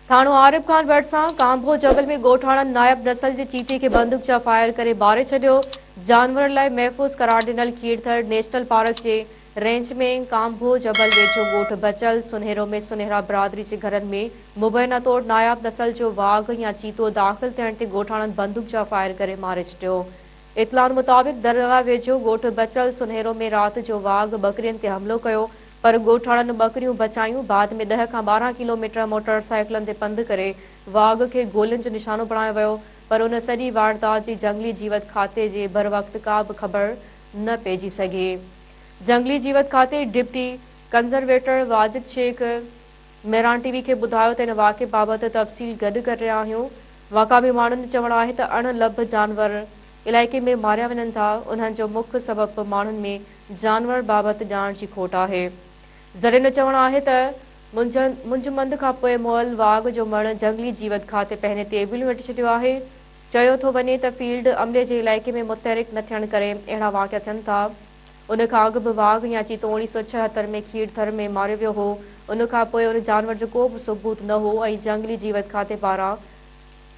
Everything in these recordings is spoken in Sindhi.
ٿاڻو عارب خان ڀرسان ڪانڀو جبل ۾ ڳوٺاڻن نائب نسل جي چيتي کي بندوق جا فائر ڪري ماري ڇڏيو، جانورن لاء محفوظ قرار ڏنل کيرٿر نيشنل پارڪ جي رينج ۾ ڪانڀو جبل ويجهو ڳوٺ بچل سنهرو ۾ سنهرا برادري جي گهرن ۾ مبينا طور نائب نسل جو واگهه يا چيتو داخل ٿيڻ تي ڳوٺاڻن بندوق جا فائر ڪري ماري ڇڏيو، اطلاعن مطابق درگاهه ويجهو ڳوٺ بچل سنهرو ۾ رات جو واگهه ٻڪرين تي حملو ڪيو، پر ڳوٺاڻن ٻڪريون بچايون، بعد ۾ ڏهه کان ٻارهن ڪلو ميٽر موٽر سائيڪلن تي پنڌ ڪري واڳ کي گولين جو نشانو بڻايو ويو، پر ان سڄي واردات جي جهنگلي جيوت کاتي جي بروقت ڪا به خبر نه پئجي سگهي. جهنگلي جيوت کاتي deputy conservator Wajid Sheikh Mehran T V کي ٻڌايو ته ان واقعي بابت تفصيل گڏ ڪري رهيا آهيون، مقامي ماڻهن جو چوڻ آهي ته اڻ لڀ جانور علائقي ۾ ماريا وڃن ٿا، انهن جو مک سبب به ماڻهن ۾ جانور بابت ڄاڻ جي کوٽ آهي. ذرين جو چوڻ آهي ته منجهه مند کان پوء مئل واڳ جو مڻ جهنگلي جيوت کاتي پنهنين تيوبيلون ويٽي ڇڏيو آهي. چيو ٿو وڃي ته فيلڊ عملي جي علائقي ۾ متحرڪ نه ٿيڻ ڪري اهڙا واقعا ٿين ٿا. ان کان اڳ به واڳ يا چيتو اڻيهه سؤ ڇههتر ۾ کيڙ ٿر ۾ ماريو ويو هو. ان کان پوء ان جانور جو ڪو به ثبوت نه هو ۽ جهنگلي جيوت کاتي پاران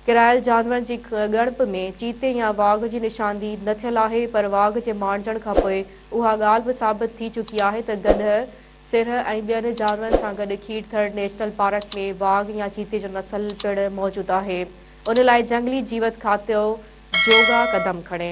ڪرايل جانورن جي ڳڻپ ۾ چيتي يا واگهه جي نشاندهي نه ٿيل آهي، پر واگهه جي ماڻجڻ کان پوء اها ڳالهه به ثابت ٿي چڪي آهي ته گڏهه، سرهه ۽ ٻين جانورن سان گڏ کير ٿڙ نيشنل پارڪ ۾ واگهه يا چيتي جو نسل پڻ موجود آهي، ان لاء جهنگلي جيوت کاتو جوڳا قدم کڻي.